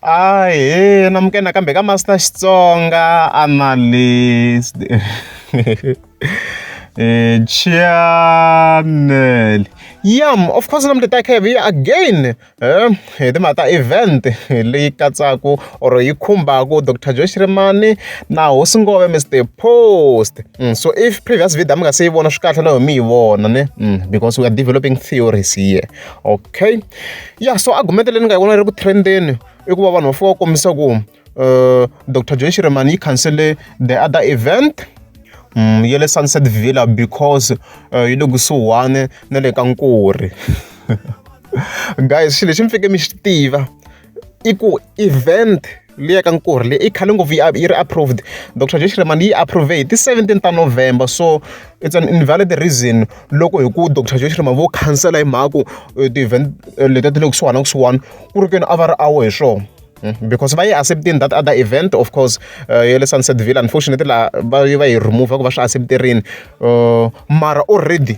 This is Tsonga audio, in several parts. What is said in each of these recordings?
Ahee na muke nakambe ka Master Xitsonga Analyst channel yam of course na muteta khe hi again hi timhaka ta event leyi katsaka or yi khumbaka dr joe xirimani na hosi ngove mr post mm, so if previous video mi nga se yi vona swi kahle na ho mi yi vona ne mm, because we are developing theories here okay ya so argument leyi ni nga yi vona ri ku trendeni i ku va vanhu va fika va kombisa ku um eh, dr john shiremani yi cancele the other event um ya le sunset villa because uh, yi le kusuhani na le ka nkuri guys xilo lexi mi fike mi xi tiva i ku event liya ka nkurhi leyi i khale ngopfu yi ri approved dr josh remani yi approve hi ti-17 ta november so it's an invalid reason loko hi ku dr josh remani vo khansela hi mhaka ku eh, ti-event eh, letiya ti le kusuhana na kusuhana ku ri keni a va ri awo hi swona hmm, because va yi acceptini that other event of course uh, ya le sunset ville unfortunately laha va yi va yi remove ku va swi accepterini uh, mara already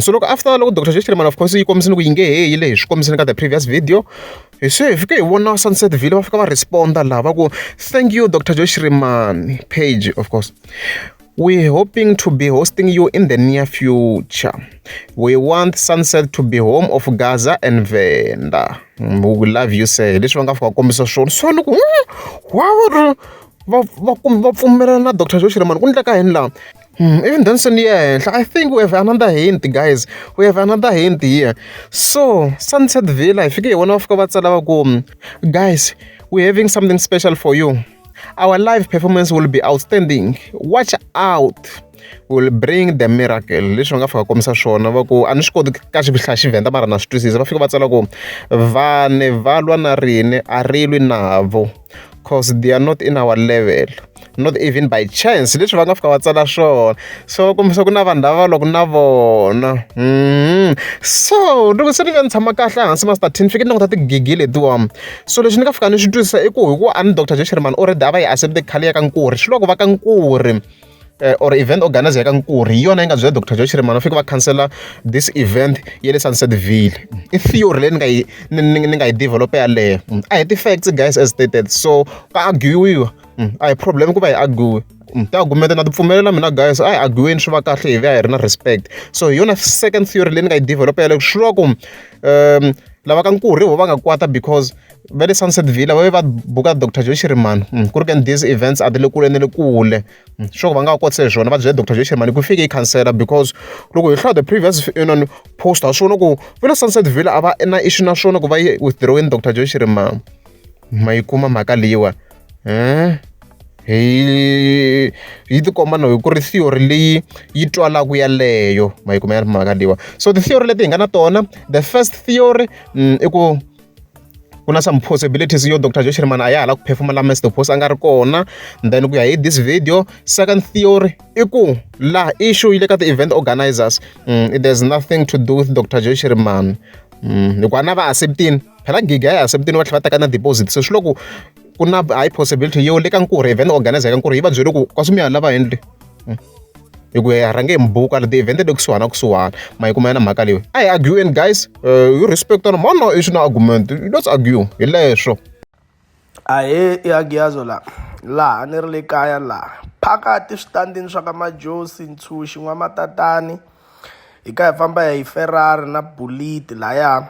So loko after loko doctor Jeff Feelman of course yi kombisa ku yi nge he yile hi swi kombisile ka the previous video hi se hi fike hi vona Sunset Vale va fika va respond-a laha va ku thank you doctor Joe Shirimani page of course we hoping to be hosting you in the near future we want Sunset to be home of Gaza and Venda mm, we love you sir hi leswi va nga fika kombisa swona so ni ku hmm, wa va va pfumela na doctor Joe Shirimani ku endleka yini laha Even Danson yi ya henhla I think we have another hint guys we have another hint here so Sunset Villa hi fike hi vona va fika va tsala va ku guys we having something special for you our live performance will be outstanding watch out will bring the miracle leswi va nga fika kombisa swona va ku a ni swi koti ka xihlaya xivenda mara na swi twisisa va fika va tsala ku vanhu va lwa na rine a ri lwi navo cause they are not in our level not even by chance leswi va nga fika va tsala swona so kumbisa ku na vanhu lava va loko na vona mm. so loko se ni ve ni tshama kahle hansi ma startin ni fike ni languta tigigi letiwani so lexi ni nga fika ni swi twisisa i ku hikuva a ni doctor josheriman already a va yi accepte khale ya ka nkuri swi loko va ka nkuri or event organiser ya ka Nkurhi hi yona yi nga byela Doctor Joe Shirimani va fika va khansela this event ya le Sunsetville i theory leyi ni nga yi ni nga yi develop yaleyo a hi ti-facts guys as stated so ka arguiwa a hi problem ku va hi argue tiagumenta na tipfumelela mina guys a hi arguweni swi va kahle hi vuya hi ri na respect so hi yona second theory leyi ni nga yi develop yaleyo swi va ku um lava ka Nkurhi vo va nga kwata because va le sunset villa va ve va buka dr joe shirimani mm, ku ri kani these events a ti le kule ni le kule mm, swo va nga va kotise hi swona va byele dr joe shirimani ku fike yi khansela because loko hi hlaya the previous non post ha swona ku va le sunset villa a va na issue na swona ku va yi withdrawini dr joe shirimani ma yi kuma mhaka leyiwa um hi yi tikomba no hi ku ri theory leyi yi twalaku yaleyo ma yi kuma ya ri mhaka leyiwa so ti-theory leti hi nga na tona the first theory mm, i ku ku na some possibilities yo dr josh rimana a ya hala ku phefumula mr post a nga ri kona then ku ya hi this video second theory i ku la issue yi le ka ti-event organizers mm, there's nothing to do with dr josh rimana mm, hikuva na va acceptini phela gigi a yi acceptini va tlhela va teka na deposit se swi loko ku na high possibility yo le ka nkurhi event organizer ka nkurhi yi va byele ku ka swimiyana lava endle hmm. hi ku ya rhange hi mbuka la ti-event le kusuhana kusuhana ma yi kuma yena mhaka leyi a hi arguing guys uh, you respect on mona i swi na argument let's argue hi leswo ahee i agiyazo la laha ni ri le kaya laha phakati switandini swa ka majosi ntshunxi n'wamatatani hi ka hi famba hi ferrari na buliti lahaya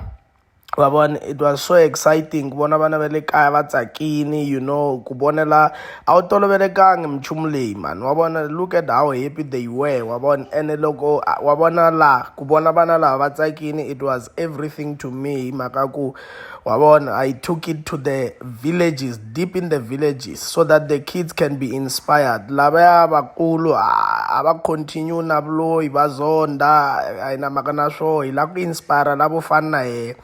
wa vona it was so exciting ku vona vana va le kaya va tsakini you know ku vonela a wu tolovelekangi minchumu leyi mhani wa vona look at how happy they were wa vona ene loko wa vona laha ku vona vana lava va tsakini it was everything to me hi mhaka ku wa vona i took it to the villages deep in the villages so that the kids can be inspired lavaya vakulu a va continue na vuloyi va zonda a yi na mhaka na swoho hi lava ku inspire lavo fana na yehe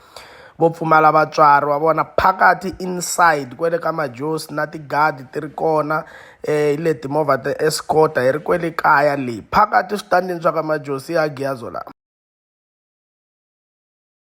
vo pfumala vatswari wa vona phakati inside kwele ka majos na tigadi ti ri kona um eh, hi le timovha ta escota hi ri kwele kaya leyi phakati switandini swa ka majos ya giyazo lama